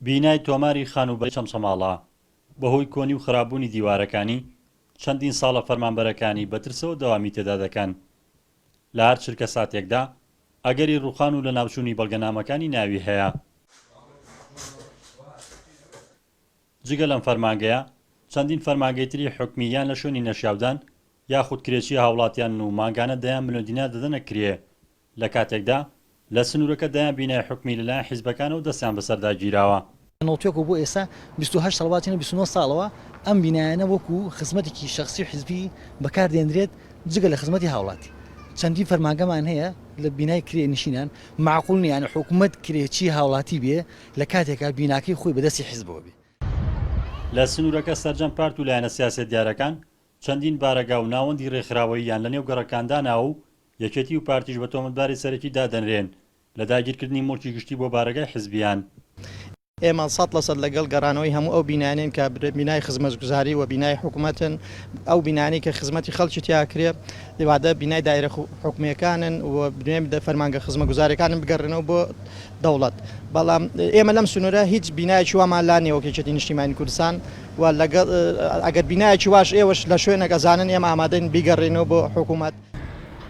بینای تۆماری خانووبەرەی چەمچەماڵە بەهۆی کۆنی و خراپبوونی دیوارەکانی، چەندین ساڵە فەرمانبەرەکانی بە ترسەوە دەوامی تێدا دەکەن. لە هەر چرکەساتێکدا ئەگەری ڕووخان و لەناوچوونی بەڵگەنامەکانی ناوی هەیە. جگە لەم فەرمانگەیە، چەندین فەرمانگەی تری حکومی یان لە شوێنی نەشیاودان یاخود کرێچی هاوڵاتیانن و مانگانە دەیان ملیۆن دینار دەدەنە کرێ. لە کاتێکدا لە سنوورەکە دەیان بینای حکومی لە لایەن حیزبەکانەوە دەستیان بەسەردا گیراوە. نەوتوێک و بۆ ئێستا بیست و هەشت ساڵ واتیانە بیست و نۆ ساڵەوە ئەم بینایانە وەکو خزمەتێکی شەخسی و حیزبی بەکار دێندرێت جگە لە خزمەتی هاوڵاتی چەندین فەرمانگەمان هەیە لە بینای کرێ نشینان مەعقول نیە یانی حکومەت کرێچی هاوڵاتی بێ لە کاتێکا بیناکەی خۆی بە دەستی حیزبەوە بێ. لە سنوورەکە سەرجەم پارت و لایەنە سیاسیە دیارەکان چەندین بارەگا و ناوەندی رێکخراوەییان لە نێو گەڕەکان داناوە و یەکێتی و پارتیش بە تۆمەتباری سەرەکی دادەنرێن لە داگیرکردنی موڵکی گشتی بۆ بارەگای حزبییان. ئێمە سەد لە سەد لەگەڵ گەڕانەوەی هەموو ئەو بینایانەین کە بینای خزمەتگوزاری و بینای حکومەتن، ئەو بینایانەی کە خزمەتی خەڵکی تیا ئەکرێ، ئیوادە بینای دایرە حکومییەکانن و بینای فەرمانگە خزمەتگوزارییەکانن بگەڕێنەوە بۆ دەوڵەت، بەڵام ئێمە لەم سنوورە هیچ بینایەکی وامان لا نییە وەک یەکێتی نیشتیمانی کوردستان و لەگەڵ ئەگەر بینایەکی واش ئێوەش لە شوێنێک ئەزانن ئێمە ئامادەین بیگەڕێنەوە بۆ حکومەت.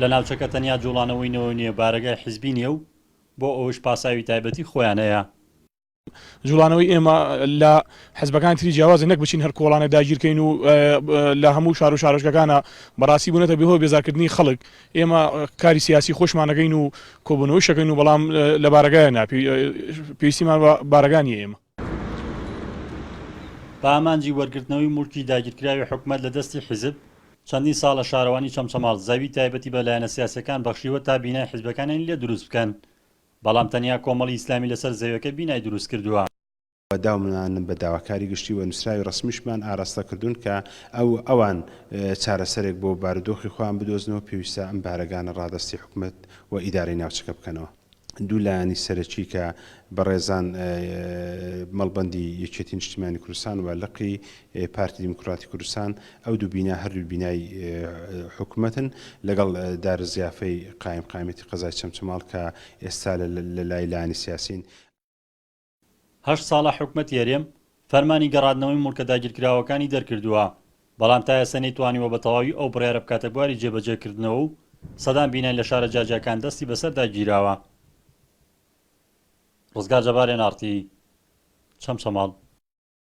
لە ناوچەکە تەنیا جوڵانەوەی نەوە نییە، بارەگای حیزبی نییە و بۆ ئەوەش پاساوی تایبەتی خۆیان هەیە. جوڵانەوەی ئێمە لە حیزبەکانی تری جیاوازە، نەک بچین هەر کۆڵانێ داگیرکەین و لە هەموو شار و شارۆچکەکانا، بەڕاستی بوونەتە بێ هۆی بێزارکردنی خەڵک. ئێمە کاری سیاسی خۆشمان ئەکەین و کۆبوونەوەیش ئەکەین و بەڵام لە بارەگایە نا، پێویستیمان بە بارەگا نییە. ئێمە. بە ئامانجی وەرگرتنەوەی موڵکی داگیرکراوی حکومەت لە دەستی حیزب، چەندین ساڵە شارەوانی چەمچەماڵ زەوی تایبەتی بە لایەنە سیاسیەکان بەخشیوە تا بینای حیزبەکانیان لێ دروست بکەن، بەڵام تەنیا کۆمەڵی ئیسلامی لەسەر زەویەکە بینای دروست کردووە. و داومنانم بە داواکاری گشتی و نوسراوی ڕەسمیشمان ئاراستە کردوون کە ئەو ئەوان چارەسەرێک بۆ بارودۆخی خۆیان بدۆزنەوە پێویستە ئەم بارەگانە ڕادەستی حکومەت و ئیدارەی ناوچەکە بکەنەوە. دوو لایەنی سەرەکی کە بەڕێزان مەڵبەندی یەکێتی نیشتیمانی کوردستان و لقی پارتی دیموکراتی کوردستان ئەو دوو بینا هەردوو بینای حکوومەتن لەگەڵ دارە زیافەی قایم قامەتی قەزای چەمچەماڵ کە ئێستا لە لای لانی سیاسین هەشت ساڵە حکومەتی هەرێم فەرمانی گەڕادنەوەی موڵکە داگیرکراوەکانی دەرکردووە، بەڵام تا ئێستا نەیتوانیوە بە تەواوی ئەو بڕیارە بکاتە بواری جێبەجێکردنەوە و سەدان بینای لە شارە جیاجیاکان دەستی بەسەردا گیراوە. ڕزگار جەبار، ئێن ئاڕ تی، چەمچەماڵ.